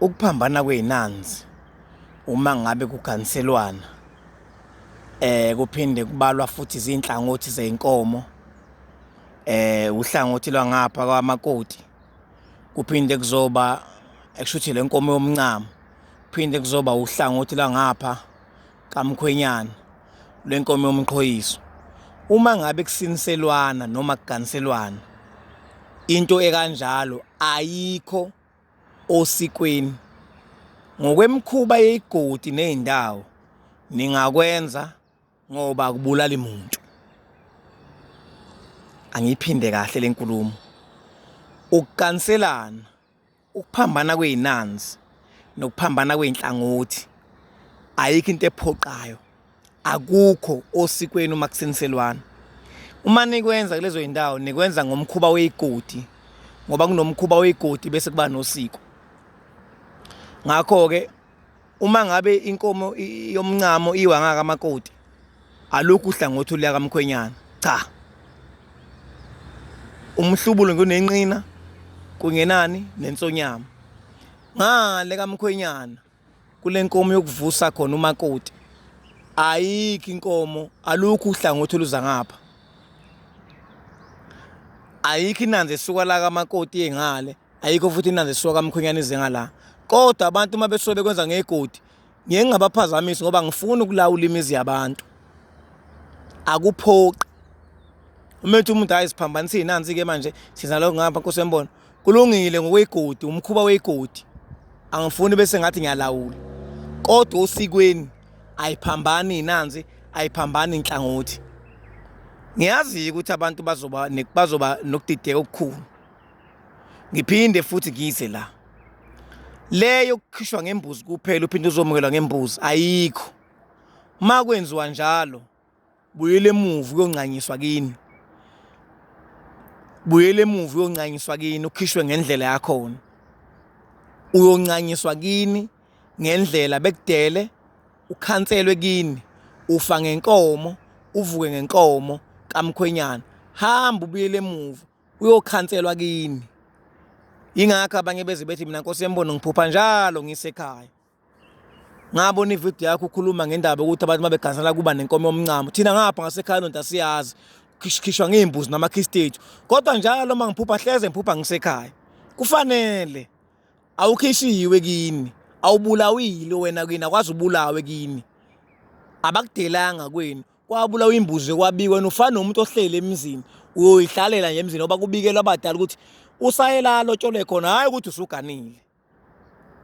ukuphambana kwey'nanzi uma ngabe kuganiselwana eh kuphinde kubalwa futhi izinhlangothi zeinkomo eh uhlangothi lwangapha kwamakoti kuphinde kuzoba ekushuthi lenkomo yomncamo kuphinde kuzoba uhlangothi lwangapha kamkhwenyana lwenkomo yomqhoyiso uma ngabe kusiniselwana noma kuganiselwana into ekanjalo ayikho osikweni ngokwemkhuba yeyigodi nezindawo ningakwenza ngoba kubulala imuntu angiphinde kahle lenkulumo ukukanselana Ukuphambana kwey'nanzi nokuphambana kwey'nhlangothi ayikho into ephoqayo akukho osikweni uma kusiniselwana uma nikwenza kulezo zindawo nikwenza ngomkhuba weyigodi ngoba kunomkhuba weyigodi bese kuba nosiko ngakho-ke uma ngabe inkomo yomncamo iwa ngaka amakoti alukhu uhlangothi oluya kamkhwenyana cha umhlubulo ngunenqina kungenani nensonyama ngale kamkhwenyana kule nkomo yokuvusa khona umakoti ayikho inkomo alukho uhlangothi oluza ngapha ayikho inanzi esuka la kamakoti engale ayikho futhi inanzi esuka kamkhwenyana ize ngala kodwa abantu uma besuke bekwenza ngegodi ngiye ngingabaphazamisi ngoba ngifuna ukulawula imizi yabantu akuphoqi uma ethi umuntu hayi siphambanise nansi-ke manje siza lokho ngapha nkosi yembona kulungile ngokweyigodi umkhuba weyigodi angifuni bese ngathi ngiyalawula kodwa osikweni ayiphambani inanzi ayiphambani inhlangothi ngiyazi ukuthi abantu bazoba bazoba nokudideka okukhulu Ngiphinde futhi ngize la. Leyo kukhishwa ngembuzi kuphela uphinde uzomukelwa ngembuzi ayikho. Uma kwenziwa njalo buyele emuva uyonqanyiswa kini. Buyele emuva uyonqanyiswa kini ukhishwe ngendlela yakhona. Uyonqanyiswa kini ngendlela bekudele ukhanselwe kini ufa ngenkomo uvuke ngenkomo kamkhwenyana hamba ubuyele emuva uyokhanselwa kini ingakho abanye beze bethi mina nkosi yembono ngiphupha njalo ngisekhaya ngabona ividiyo yakho ukhuluma ngendaba yokuthi abantu uma begansela kuba nenkomo yomncamo thina ngapha ngasekhaya lonto asiyazi khishwa ngey'mbuzi namakhisti ethu kodwa njalo uma ngiphupha hleze ngiphupha ngisekhaya kufanele awukhishiwe kini awubulawile wena kini akwazi ubulawe kini abakudelanga kwenu kwabulawa imbuzi kwabikwa wena ufana nomuntu ohleli emzini uyoyihlalela nje emzini ngoba kubikelwa abadala ukuthi usayela alotshole khona hhayi ukuthi usuganile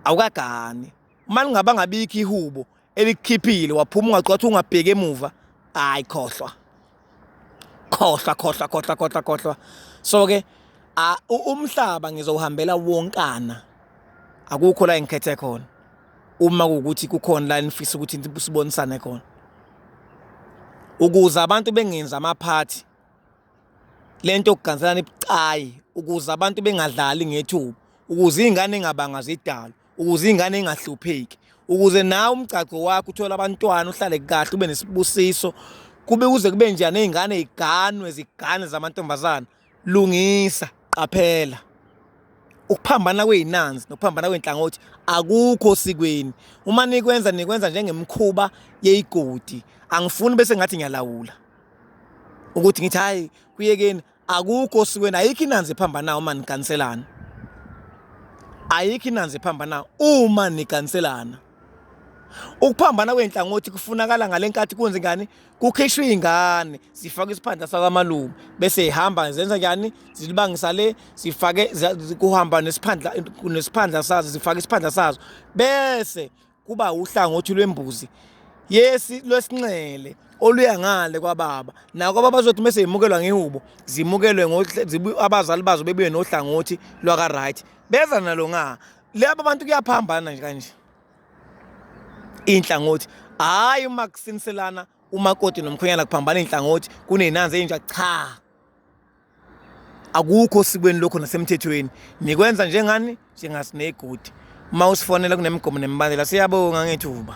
awukagani uma lingaba ngabikho ihubo elikukhiphile waphuma ungacwathi ungabheki emuva hhayi khohlwa khohlwa khohlwa khohlwa khohlwa khohlwa so-ke umhlaba ngizowuhambela wonkana akukho la engikhethe khona uma kuwukuthi kukhona la enifisa ukuthi sibonisane khona ukuze abantu bengenzi amaphathi lento yokuganzelana ibucayi ukuze abantu bengadlali ngethuba ukuze iy'ngane ingabanga zidalo ukuze iy'ngane ingahlupheki ukuze nawe umgcagco wakho uthole abantwana uhlale kahle ube nesibusiso kube kuze kube njani iy'ngane y'ganwe ziganwe zamantombazana Lungisa, qaphela. Ukuphambana kweyinanzi nokuphambana kwenhlangothi akukho osikweni. Uma nikwenza nikwenza njengemkhuba yeyigodi. Angifuni bese ngathi ngiyalawula. Ukuthi ngithi hayi kuyekeni akukho osikweni ayikho inanzi ephambanayo uma niganiselana. Ayikho inanzi ephambanayo uma niganiselana. Ukuphambana kwey'nhlangothi kufunakala ngale nkathi kwenze ngani kukhishwa iy'ngane zifake isiphandla sakamalume bese y'hamba zenza njani zilibangisa le zifake kuhamba nesiphandla nesiphandla sazo zifake isiphandla sazo bese kuba uhlangothi lwembuzi yesi lwesinxele oluya ngale kwababa nako baba zothi mase yimukelwa ngehubo zimukelwe abazali bazo bebuye nohlangothi lwaka right beza nalo nga laba bantu kuyaphambana nje kanje inhlangothi hayi uma kusiniselana umakoti nomkhwenyana kuphambana inhlangothi kunenanzi enja cha akukho sikweni lokho nasemthethweni nikwenza njengani njengasinegodi uma usifonela kunemigomo nemibandela siyabonga ngethuba